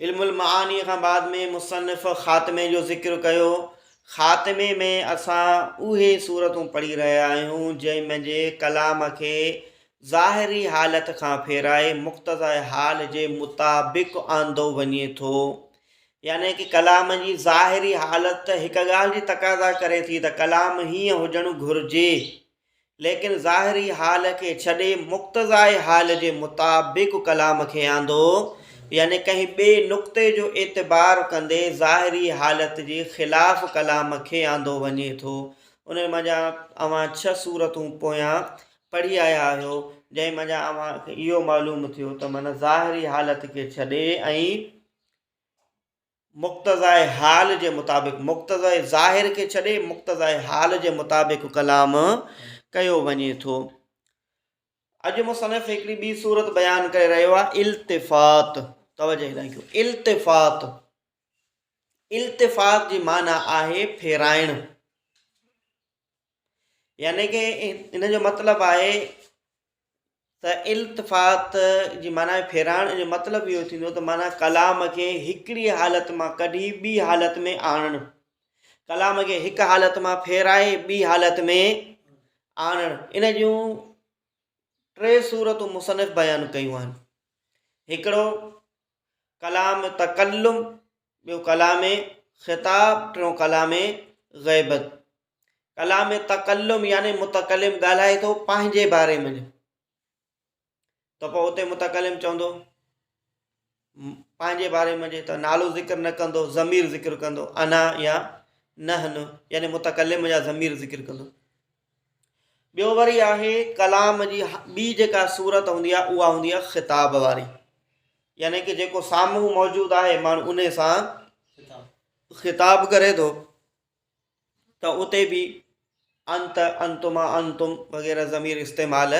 علم المعاني کان بعد ۾ مصنف خاتمي جو ذڪر ڪيو. خاتمي ۾ اسان اهي صورتون پڙهي رهيا آهيون جنهن ۾ جي ڪلام کي ظاهري حالت کان ڦيرائي مقتضاء حال جي مطابق آندو وڃي ٿو يعني ڪي ڪلام جي ظاهري حالت هڪ ڳالهه جي تقاضا ڪري ٿي ته ڪلام هيئن هجڻ گهرجي ليڪن ظاهري حال کي ڇڏي مقتضائي حال جي مطابق ڪلام کي آندو، يعني ڪنهن ٻئي نقطي جو اعتبار ڪندي ظاهري حالت جي خلاف ڪلام کي آندو وڃي ٿو. انهن مان جا اوهان ڇهه سورتون پويان پڙهي آيا آهيو، جنهن مان جا اوهان کي اهو معلوم ٿيو ته من ظاهري حالت کي ڇڏي ۽. مقتضائي حال جي مطابق، مقتضائي ظاهر کي ڇڏي مقتضائي حال جي مطابق ڪلام ڪيو وڃي ٿو. اڄ مصنف هڪڙي ٻي صورت بيان ڪري رهيو آهي التفات، توجه هيڏانهن ڪيو، التفات، التفات جي معنيٰ آهي ڦيرائڻ. يعني ڪه ان جو مطلب آهي ته التفات جي معنيٰ ڦيرائڻ جو مطلب اهو ٿيندو ته معنيٰ ڪلام کي هڪڙي حالت مان ڪڍي ٻي حالت ۾ آڻڻ ڪلام کي هڪ حالت مان ڦيرائي ٻي حالت ۾ آڻڻ ان جون ٽي صورتون مصنف بيان ڪيون آهن هڪڙو ڪلام تڪلم ٻيو ڪلام خطاب، ٽيون ڪلام غيبت. ڪلام تڪلم يعني متڪلم ڳالهائي ٿو پنهنجي باري ۾ ته پوء اتي متڪلم چوندو پنهنجي باري ۾ ته نالو ذڪر نه ڪندو ضمير ذڪر ڪندو انا يا نحن يعني متڪلم يا ضمير ذڪر ڪندو ٻيو وري آهي ڪلام جي ٻي جيڪا صورت هوندي آهي اها هوندي آهي خطاب واري يعني ڪي جيڪو سامهون موجود آهي ماڻهو ان سان خطاب ڪري ٿو ته اتي به انت انتما انتم وغيره ضمير استعمال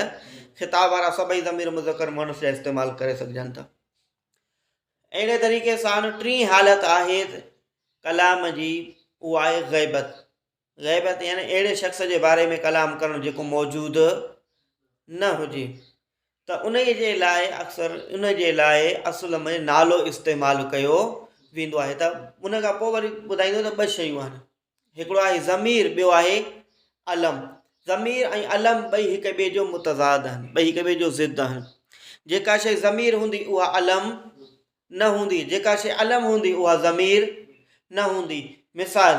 خطاب وارا سڀئي ضمير مذڪر مونس جا استعمال ڪري سگهجن ٿا اهڙي طريقي سان ٽي حالت آهي ڪلام جي اها آهي غيبت غيبت يعني اهڙي شخص جي باري ۾ ڪلام ڪرڻ جيڪو موجود نه هجي ته انهي جي لاء اڪثر ان جي لاء اصل ۾ نالو استعمال ڪيو ويندو آهي ته ان کان پوء وري ٻڌائيندو ته ٻه شيون آهن هڪڙو آهي ضمير ٻيو آهي علم ضمير ۽ علم ٻئي هڪ ٻئي جو متضاد آهن ٻئي هڪ ٻئي جو ضد آهن جيڪا شيء ضمير هوندي اها علم نه هوندي جيڪا شيء علم هوندي اها ضمير نه هوندي مثال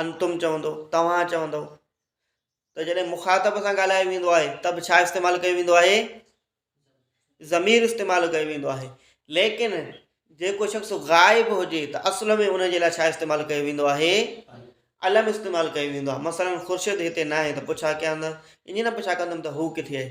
انتم چوندو، توهان چوندو ته جڏهن مخاطب سان ڳالهايو ويندو آهي ته به ڇا استعمال ڪيو ويندو آهي ضمير استعمال ڪيو ويندو آهي ليڪن جيڪو شخص غائب هجي ته اصل ۾ ان جي لاء ڇا استعمال ڪيو ويندو آهي علم استعمال ڪيو ويندو آهي مثلا خورشيد هتي نه آهي ته پڇا ڪيا نه ائين نه پڇا ڪندم ته هو ڪٿي آهي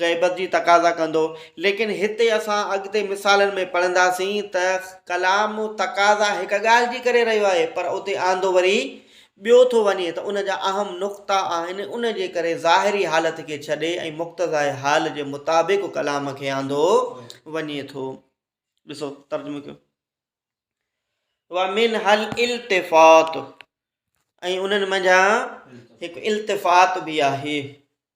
غيبت جي تقاضا ڪندو. ليڪن هتي اسان اڳتي مثالن ۾ پڙهنداسين ته ڪلام تقاضا هڪ ڳالهه جي ڪري رهيو آهي پر اتي آندو وري ٻيو ٿو وڃي ته ان جا اهم نقطا آهن ان جي ڪري ظاهري حالت کي ڇڏي ۽ مقتضائي حال جي مطابق ڪلام کي آندو وڃي ٿو ڏسو ترجمو ڪيو ومنها الالتفات ۽ انهن منجهان هڪ التفات به آهي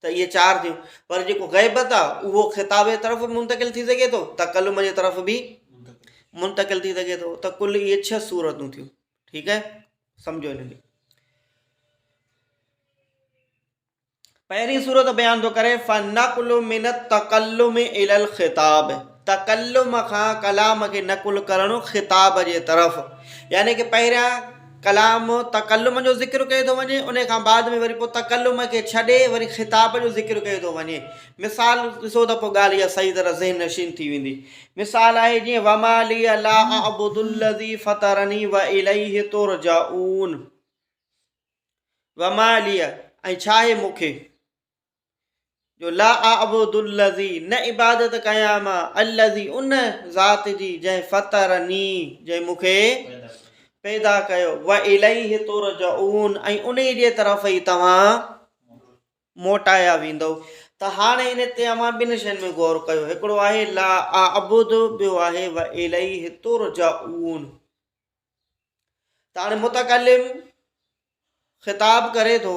ته اهي چار ٿيون، پر جيڪو غيبت آ اهو خطاب جي طرف به منتقل ٿي سگهي ٿو، تڪلم جي طرف به منتقل ٿي سگهي ٿو، ته ڪل اهي ڇهه صورتون ٿيون، ٺيڪ آهي، سمجهو هن کي. پهرين صورت بيان ٿو ڪري فنقل من التڪلم الي الخطاب. تڪلم کان ڪلام کي نقل ڪرڻ خطاب جي طرف يعني ڪه پهريان ڪلام تڪلم جو ذڪر ڪيو ٿو وڃي ان کان بعد ۾ وري پوء تڪلم کي ڇڏي وري خطاب جو ذڪر ڪيو ٿو وڃي مثال ڏسو ته پوء ڳالهه اها صحيح طرح ذهن نشين ٿي ويندي مثال آهي جيئن وما لي لا اعبد الذي فطرني واليه ترجعون وما لي ۽ ڇا آهي مون کي جو لا اعبد الذي نه عبادت ڪيان مان الذي ان ذات جي جنهن فطرني جنهن مون کي پيدا ڪيو و اليه ترجعون ۽ ان جي طرف ئي توهان موٽايا ويندو ته هاڻي ان تي اوهان ٻن شين ۾ غور ڪيو هڪڙو آهي لا اعبد ٻيو آهي و اليه ترجعون ته هاڻي متڪلم خطاب ڪري ٿو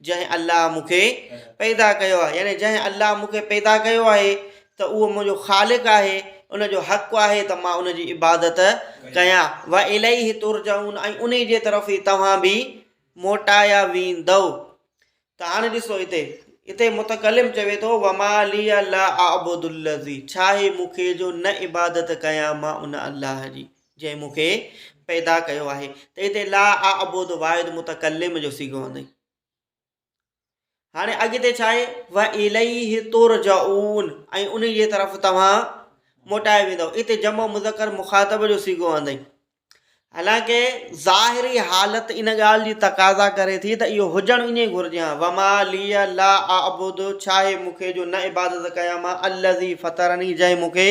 جنهن الله مون کي پيدا ڪيو آهي يعني جنهن الله مون کي پيدا ڪيو آهي ته اهو منهنجو خالق آهي ان جو حق آهي ته مان ان جي عبادت ڪيان واليه ترجعون ۽ انهي جي طرف ئي توهان به موٽايا ويندؤ ته هاڻي ڏسو هتي هتي متڪلم چوي ٿو وما لي لا اعبد الذي ڇا هي مون کي جو نه عبادت ڪيان مان ان الله جي جنهن مون کي پيدا ڪيو آهي ته هتي لا اعبد واحد متڪلم جو صيغو آندئي هاڻي اڳتي ڇا آهي و اليه ترجعون ۽ ان جي طرف توهان موٽائي ويندو اتي جمع مذڪر مخاطب جو صيغو آندئي حالانڪه ظاهري حالت ان ڳالهه جي تقاضا ڪري ٿي ته اهو هجڻ ائين گهرجي ها وما لي لا اعبد ڇا آهي مون کي جو نه عبادت ڪيان مان الذي فطرني جنهن مون کي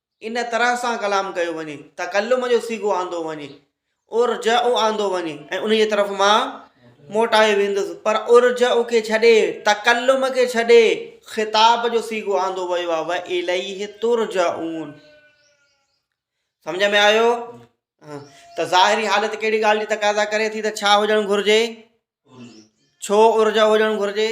ان طرح سان ڪلام ڪيو وڃي، تڪلم جو صيغو آندو وڃي، ارجع آندو وڃي ۽ انهيء طرف مان موٽايو ويندس، پر ارجع کي ڇڏي، تڪلم کي ڇڏي، خطاب جو صيغو آندو ويو آهي، والیه ترجعون. سمجهه ۾ آيو؟ ته ظاهري حالت ڪهڙي ڳالهه جي تقاضا ڪري ٿي ته ڇا هجڻ گهرجي؟ ڇو ارجع هجڻ گهرجي؟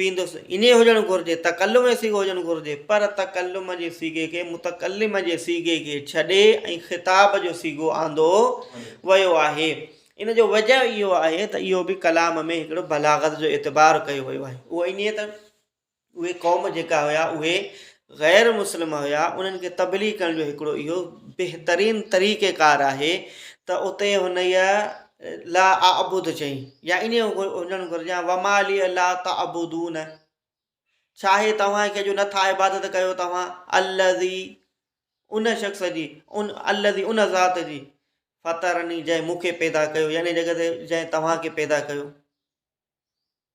ويندس انهي هجڻ گهرجي تڪلم جي صيغو هجڻ گهرجي پر تڪلم جي صيغي کي متڪلم جي صيغي کي ڇڏي ۽ خطاب جو صيغو آندو ويو آهي ان جو وجه اهو آهي ته اهو به ڪلام ۾ هڪڙو بلاغت جو اعتبار ڪيو ويو آهي اهو انهي ته اهي قوم جيڪا هيا اهي غير مسلم هيا انهن کي تبليغ ڪرڻ جو هڪڙو اهو بهترين طريقه ڪار آهي ته اتي هنئي لا اعبد چئي يا انهي هجڻ گهرجي يا وما لي لا تعبدون ڇا آهي توهان کي جو نٿا عبادت ڪيو توهان الذي ان شخص جي ان الذي ان ذات جي فطرني جنهن مون کي پيدا ڪيو يعني جنهن توهان کي پيدا ڪيو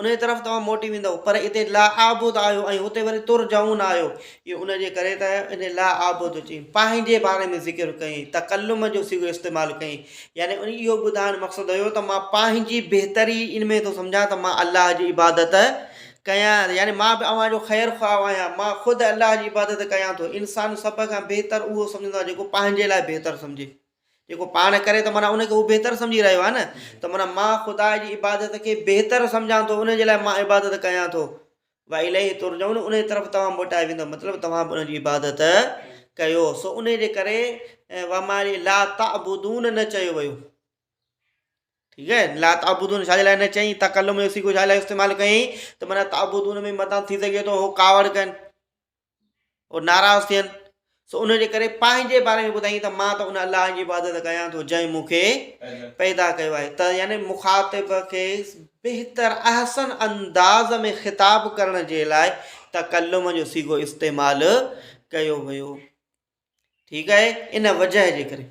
انهيء طرف توهان موٽي ويندؤ، پر اتي لاعابد آهيو ۽ اتي وري ترجعون آهيو. اهو ان جي ڪري ته انهيء لاعابد چئين، پنهنجي باري ۾ ذڪر ڪيائين، تڪلم جو صيغو استعمال ڪيائين، يعني ان اهو ٻڌائڻ مقصد هيو ته مان پنهنجي بهتري ان ۾ ٿو سمجهان ته مان الله جي عبادت ڪيان، يعني مان به اوهان جو خير خواهه آهيان، مان خود الله جي عبادت ڪيان ٿو. انسان سڀ کان بهتر اهو سمجهندو آهي جيڪو پنهنجي لاء بهتر سمجهي. جيڪو پاڻ ڪري ته معنيٰ ان کي هو بهتر سمجهي رهيو آهي نه ته معنيٰ مان خدا جي عبادت کي بهتر سمجهان ٿو ان جي لاء مان عبادت ڪيان ٿو واليه ترجعون ان جي طرف توهان موٽايا ويندا مطلب توهان به ان جي عبادت ڪيو سو ان جي ڪري ومالي لا تعبدون نه چيو ويو ٺيڪ آهي لا تعبدون شاء لاء نه چئي تڪلم جو سيکو شاء لاء استعمال ڪيائين ته معنی تعبدون ۾ متان ٿي سگهي ٿو هو ڪاوڙ ڪن او ناراض ٿين سو ان جي ڪري پنهنجي باري ۾ ٻڌائين ته مان ته ان الله جي عبادت ڪيان ٿو جنهن مون کي پيدا ڪيو آهي ته يعني مخاطب کي بهتر احسن انداز ۾ خطاب ڪرڻ جي لاء تڪلم جو سيگو استعمال ڪيو ويو ٺيڪ آهي ان وجه جي ڪري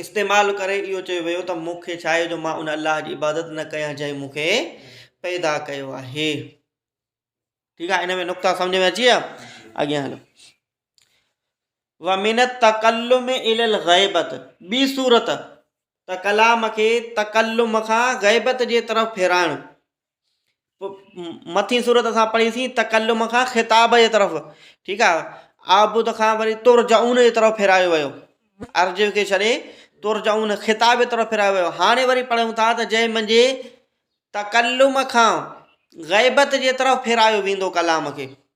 استعمال ڪري اهو چيو ويو ته مون کي ڇاهي جو مان ان الله جي عبادت نه ڪيان جنهن مون کي پيدا ڪيو آهي ٺيڪ آهي ان ۾ نقطا سمجھ ۾ اچي ويا اڳيان هلو ومن التڪلم الى الغيبت ٻي صورت ته ڪلام کي تڪلم کان غيبت جي طرف ڦيرائڻ مٿين صورت اسان پڙهيسين تڪلم کان خطاب جي طرف ٺيڪ آهي آبود کان وري تر جعون جي طرف ڦيرايو ويو ارض کي ڇڏي تر جعون خطاب جي طرف ڦيرايو ويو هاڻي وري پڙهيون ٿا ته جنهن منجي تڪلم کان غيبت جي طرف ڦيرايو ويندو ڪلام کي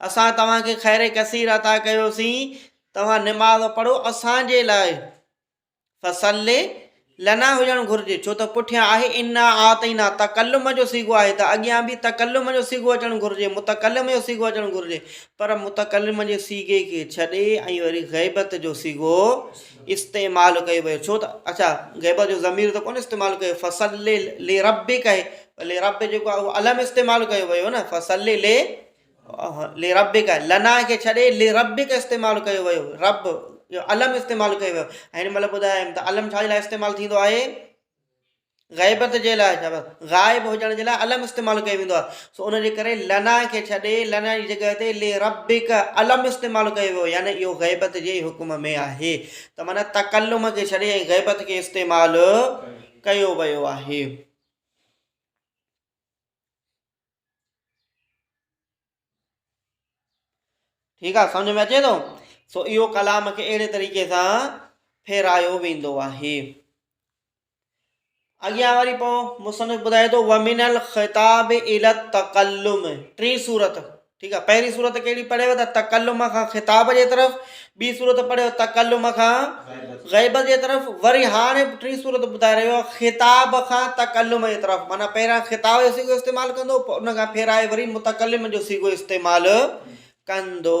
اسان توهان کي خير ڪثير عطا ڪيوسين، توهان نماز پڙهو اسان جي لاء فصل لنا هجڻ گهرجي ڇو ته پٺيان آهي انا اعطينا تڪلم جو صيغو آهي ته اڳيان به تڪلم جو صيغو اچڻ گهرجي متڪلم جو صيغو اچڻ گهرجي پر متڪلم جي صيغي کي ڇڏي ۽ وري غيبت جو صيغو استعمال ڪيو ويو ڇو ته اڇا غيبت جو ضمير ته ڪونه استعمال ڪيو فصل لربڪ لربه جيڪو آهي اهو الم استعمال ڪيو ويو آهي نه فصل لي لربك لنا کي ڇڏي لربك استعمال ڪيو ويو رب جو الم استعمال ڪيو ويو ۽ هن مهل ٻڌايم ته الم ڇا جي لاء استعمال ٿيندو آهي غيبت جي لاء ڇا غائب هجڻ جي لاء الم استعمال ڪيو ويندو آهي سو ان جي ڪري لنا کي ڇڏي لنا جي جڳهه تي لي ربک الم استعمال ڪيو ويو يعني اهو غيبت جي حڪم ۾ آهي ته معنی تڪلم کي ڇڏي ۽ غيبت کي استعمال ڪيو ويو آهي ٺيڪ آ سمجھ ۾ اچي ٿو سو اهو ڪلام کي اهڙي طريقي سان ڦيرايو ويندو آهي اڳيان وري پوء مصنف ٻڌائي ٿو ومن الخطاب الى التقلم ٽي صورت ٺيڪ آهي پهرين صورت ڪهڙي پڙهيو ته تڪلم کان خطاب جي طرف ٻي صورت پڙهيو تڪلم کان غيبت جي طرف وري هاڻي ٽي صورت ٻڌائي رهيو آهي خطاب کان تڪلم جي طرف معنی پهريان خطاب جو سيگو استعمال ڪندو پوء ان کان ڦيرائي وري متڪلم جو سيگو استعمال ڪندو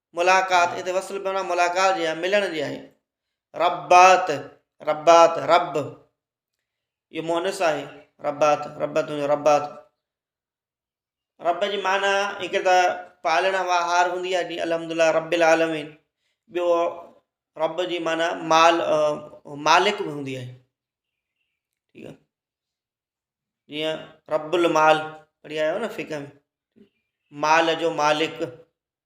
ملاقات، اتي وصل بي معنيٰ ملاقات جي آهي، ملڻ جي آهي. ربّات، ربّات، ربّ، اهو مؤنث آهي، ربّات، ربّ تنهنجو ربّات. ربّ جي معنيٰ هڪ ته پالڻ وهار هوندي آهي جيئن الحمد الله رب العالمين، ٻيو ربّ جي معنيٰ مال مالڪ به هوندي آهي. ٺيڪ آهي. جيئن رب المال پڙهي آيا آهيو نه فقه ۾، مال جو مالڪ.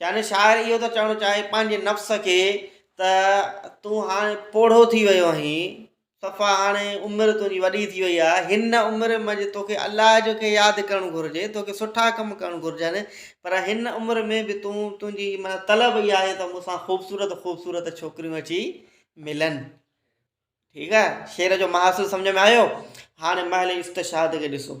يعني شاعر اهو ٿو چوڻ چاهي پنهنجي نفس کي ته تون هاڻي پوڙهو ٿي ويو آهين صفا هاڻي عمر تنهنجي وڏي ٿي وئي آهي هن عمر منجهه توکي الله جو کي ياد ڪرڻ گهرجي توکي سٺا ڪم ڪرڻ گهرجن پر هن عمر ۾ به تون تنهنجي من طلب اها آهي ته مونسان خوبصورت خوبصورت ڇوڪريون اچي ملن ٺيڪ آهي شعر جو محاصل سمجھ ۾ آيو هاڻي محل استشهاد کي ڏسو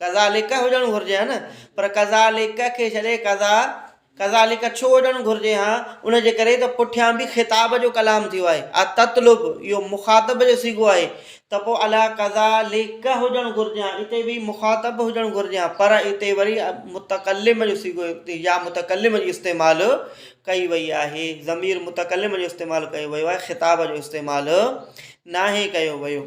ڪذالڪ هجڻ گهرجي ها نه پر ڪذالڪ کي ڇڏي ڪذا ڪذالڪ ڇو هجڻ گهرجي ها ان جي ڪري ته پٺيان به خطاب جو ڪلام ٿيو آهي آ تطلب اهو مخاطب جو سيگو آهي ته پوء الا ڪذالڪ هجڻ گهرجي ها اتي به مخاطب هجڻ گهرجي ها پر اتي وري متڪلم جو سيگو يا متڪلم جي استعمال ڪئي وئي آهي ضمير متڪلم جو استعمال ڪيو ويو آهي خطاب جو استعمال ناهي ڪيو ويو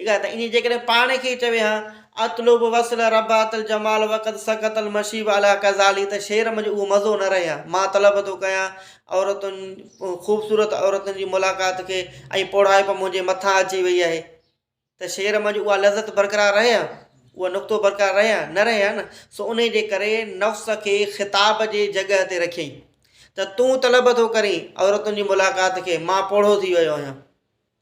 ٺيڪ آهي ته ائين جيڪڏهن پاڻ کي چوي ها اطلب وصل ربات الجمال وقد سقط المشيب علي قزالي ته شعر منجهه اهو مزو نه رهي ها مان طلب ٿو ڪيان عورتن خوبصورت عورتن جي ملاقات کي ۽ پوڙهائپ منهنجي مٿان اچي وئي آهي ته شعر منجهه اها لذت برقرار رهي ها اهو نقطو برقرار رهي ها نه رهي ها نه سو ان جي ڪري نفس کي خطاب جي جڳهه تي رکيائين ته تون طلب ٿو ڪرين عورتن جي ملاقات کي مان پوڙهو ٿي ويو آهيان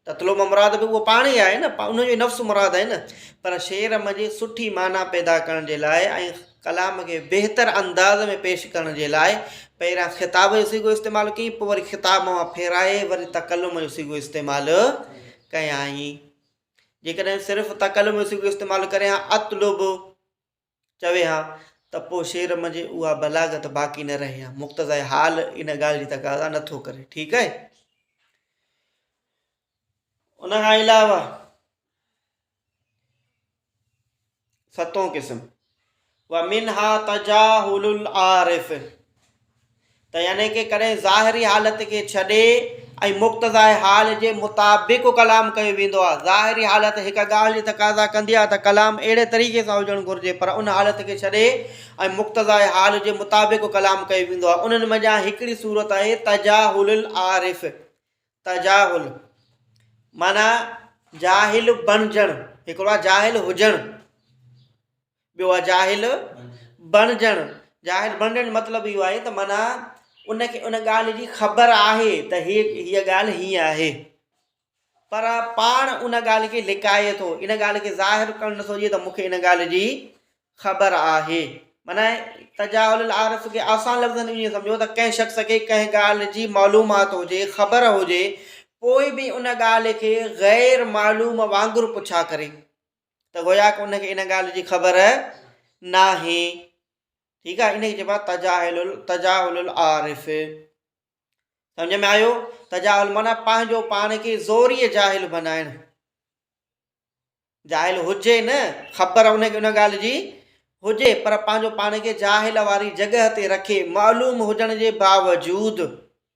تتلو مان مراد به اهو پاڻ ئي آهي نه، ان جو ئي نفس مراد آهي نه، پر شعر منجهه سٺي معنيٰ پيدا ڪرڻ جي لاء ۽ ڪلام کي بهتر انداز ۾ پيش ڪرڻ جي لاء پهريان خطاب جو صيغو استعمال ڪيائين، پوء وري خطاب مان ڦيرائي وري تڪلم جو صيغو استعمال ڪيائين. جيڪڏهن صرف تڪلم جو صيغو استعمال ڪري ها، اطلب. چوي ها ته پوء شعر منجهه اها بلاغت باقي نه رهي ها. مقتضائي حال ان ڳالهه جي تقاضا نه ٿو ڪري. ٺيڪ آهي. ان کان علاوه ستون قسم ومنها تجاهل العارف ته يعني ڪي ڪڏهن ظاهري حالت کي ڇڏي ۽ مقتضائي حال جي مطابق ڪلام ڪيو ويندو آهي. ظاهري حالت هڪ ڳالهه جي تقاضا ڪندي آهي ته ڪلام اهڙي طريقي سان هجڻ گهرجي پر ان حالت کي ڇڏي ۽ مقتضائي حال جي مطابق ڪلام ڪيو ويندو آهي. انهن منجهان هڪڙي صورت آهي تجاهل العارف، تجاهل معنيٰ جاهل بڻجڻ، هڪڙو آهي جاهل هجڻ. ٻيو آهي جاهل بڻجڻ، جاهل بڻجڻ جو مطلب اهو آهي ته معنيٰ ان کي ان ڳالهه جي خبر آهي ته هي هيء ڳالهه هيئن آهي پر پاڻ ان ڳالهه کي لڪائي ٿو ان ڳالهه کي ظاهر ڪرڻ نٿو ڏئي ته مونکي ان ڳالهه جي خبر آهي معنيٰ تجاهل العارف کي آسان لفظن ۾ ائين سمجھو ته ڪنهن شخص کي ڪنهن ڳالهه جي معلومات هجي خبر هجي پوء به ان ڳالهه کي غير معلوم وانگر پڇا ڪري ته گويا ان کي ان ڳالهه جي خبر ناهي ٺيڪ آهي ان کي چئبو تجاهل تجاهل العارف سمجھ ۾ آيو تجاهل مانا پنهنجو پاڻ کي زوري جاهل بنائن جاهل هجي نه خبر ان کي ان ڳالهه جي هجي پر پنهنجو پاڻ کي جاهل واري جڳهه تي رکي معلوم هجڻ جي باوجود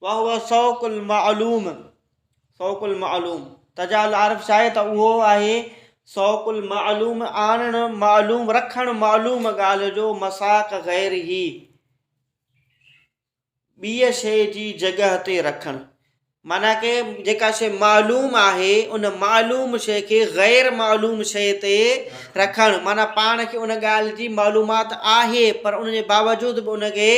وهو سوق المعلوم، سوق المعلوم، تجا العارف شايد ته اهو آهي، سوق المعلوم، آڻڻ معلوم، رکڻ معلوم ڳالهه جو مساق غيره، ٻيء شيء جي جڳهه تي رکڻ. معنيٰ ڪه جيڪا شيء معلوم آهي، ان معلوم شيء کي غير معلوم شيء تي رکڻ، معنيٰ پاڻ کي ان ڳالهه جي معلومات آهي، پر ان جي باوجود به ان کي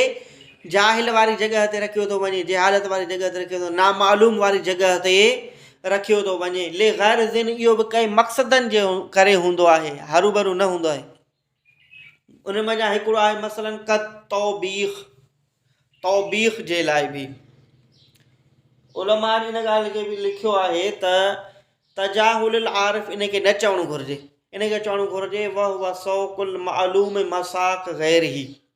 جاهل واري جڳهه تي رکيو ٿو وڃي، جهالت واري جڳهه تي رکيو ٿو وڃي، نامعلوم واري جڳهه تي رکيو ٿو وڃي. لغرضن اهو به ڪئين مقصدن جي ڪري هوندو آهي، هروڀرو نه هوندو آهي. انهن منجهان هڪڙو آهي مثلاً ڪالتوبيخ، توبيخ جي لاء به علماء ان ڳالهه کي به لکيو آهي ته تجاهل العارف ان کي نه چوڻ گهرجي، ان کي چوڻ گهرجي وهو سوق المعلوم مساق غيره.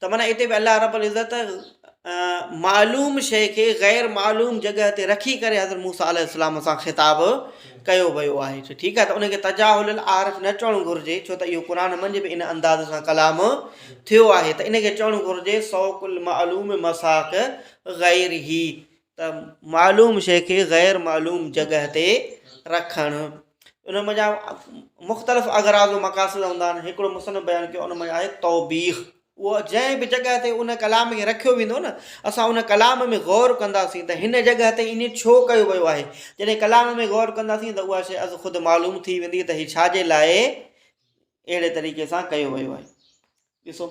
ته معنيٰ اتي به الله رب العزت معلوم شيء کي غير معلوم جڳهه تي رکي ڪري حضرت موسيٰ عليه السلام سان خطاب ڪيو ويو آهي ٺيڪ آهي ته ان کي تجاهل العارف نه چوڻ گهرجي ڇو ته اهو قرآن منجهه به ان انداز سان ڪلام ٿيو آهي ته ان کي چوڻ گهرجي سوق المعلوم مساق غير هي ته معلوم شيء کي غير معلوم جڳهه تي رکڻ ان منجهان مختلف اغراض و مقاصد هوندا آهن هڪڙو مصنف بيان ڪيو ان منجهان آهي توبيخ اهو جنهن به جڳهه تي ان ڪلام کي رکيو ويندو نه اسان ان ڪلام ۾ غور ڪنداسين ته هن جڳهه تي ائين ڇو ڪيو ويو آهي جڏهن ڪلام ۾ غور ڪنداسين ته اها شيء از خود معلوم ٿي ويندي ته هي ڇا جي لاء اهڙي طريقي سان ڪيو ويو آهي ڏسو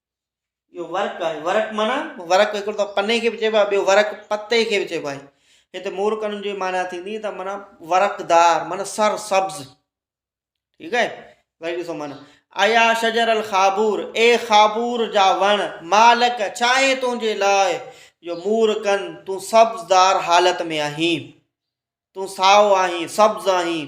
اهو ورق آهي ورق معنيٰ ورق هڪڙو ته پني کي به چئبو آهي ٻيو ورق پتي کي به چئبو آهي هتي مور ڪنن جي معنيٰ ٿيندي ته معنيٰ ورقدار معنيٰ سر سبز ٺيڪ آهي وري ڏسو معنيٰ ايا شجر الخابور اي خابور جا وڻ مالڪ چاهي تنهنجي لاء جو مور ڪن تون سبزدار حالت ۾ آهين تون ساو آهين سبز آهين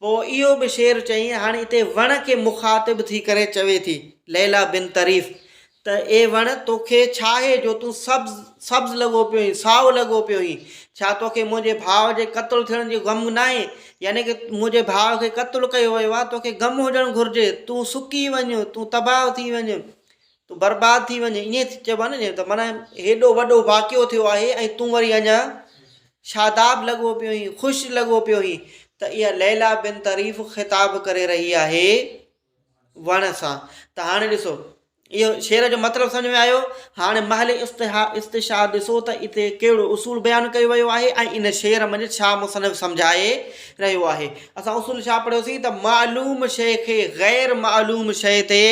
پوء اهو به شعر چيائين، هاڻي اتي وڻ کي مخاطب ٿي ڪري چوي ٿي، ليليٰ بن طريف، ته اي وڻ! توکي ڇاهي جو تون سبز سبز لڳو پيو هين، سائو لڳو پيو هين؟ ڇا توکي منهنجي ڀاء جي قتل ٿيڻ جو غم ناهي؟ يعني ڪه منهنجي ڀاء کي قتل ڪيو ويو آهي، توکي غم هجڻ گهرجي، تون سڪي وڃ، تون تباهه ٿي وڃ. تون برباد ٿي وڃ ائين چئبو آهي نه ته معنيٰ هيڏو وڏو واقعو ٿيو آهي ۽ تون وري اڃان شاداب لڳو پيو هين خوش لڳو پيو هين ته اها ليليٰ بنت طريف خطاب ڪري رهي آهي وڻ سان ته هاڻي ڏسو اهو شعر جو مطلب سمجھ ۾ آيو هاڻي محل استها استشهاد ڏسو ته اتي ڪهڙو اصول بيان ڪيو ويو آهي ۽ ان شعر منجھ ڇا مصنف سمجھائي رهيو آهي اسان اصول ڇا پڙهيوسين ته معلوم شيء کي غير معلوم شيء تي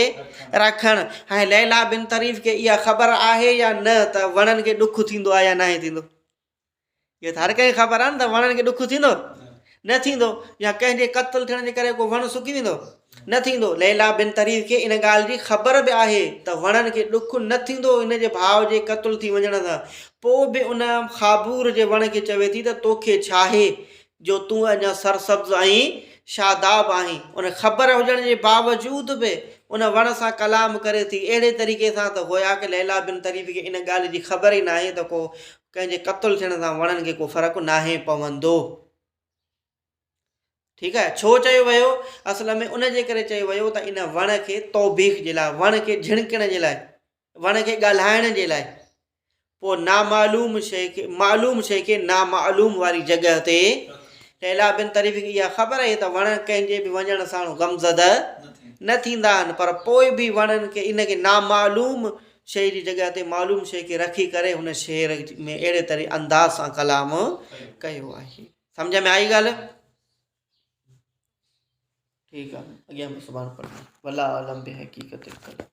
رکڻ ۽ ليليٰ بنت طريف کي اها خبر آهي يا نه ته وڻن کي ڏک ٿيندو آهي يا ناهي ٿيندو اهو ته هر ڪنهن کي خبر آهي نه ته وڻن کي ڏک ٿيندو نه ٿيندو يا ڪنهن جي قتل ٿيڻ جي ڪري ڪو وڻ سڪي ويندو نه ٿيندو ليليٰ بنت طريف کي ان ڳالهه جي خبر به آهي ته وڻن کي ڏک نه ٿيندو ان جي ڀاء جي قتل ٿي وڃڻ سان پوء به ان خابور جي وڻ کي چوي ٿي ته توکي ڇاهي جو تون اڃا سرسبز ۽ شاداب آهين. ان خبر هجڻ جي باوجود به ان وڻ سان ڪلام ڪري ٿي اهڙي طريقي سان ته گويا ڪه ليليٰ بنت طريف کي ان ڳالهه جي خبر ئي ناهي ته ڪو ڪنهن جي قتل ٿيڻ سان وڻن کي ڪو فرق ناهي پوندو. ٺيڪ آهي. ڇو چيو ويو؟ اصل ۾ ان جي ڪري چيو ويو ته ان وڻ کي توبيخ جي لاء، وڻ کي جهڻڪڻ جي لاء. وڻ کي ڳالهائڻ جي لاء پوء نامعلوم شيء کي معلوم شيء کي نامعلوم واري جڳهه تي ليلا بن طريف کي اها خبر آهي ته وڻ ڪنهن جي به وڃڻ ساڻو غمزده نه ٿيندا آهن پر پوء به وڻن کي ان کي نامعلوم شيء جي جڳهه تي معلوم شيء کي رکي ڪري هن شعر ۾ اهڙي طرح انداز سان ڪلام ڪيو آهي سمجھ ۾ آئي ڳالهه ٺيڪ آهي اڳيان به سبحان الله والله عالم به حقيقت القلم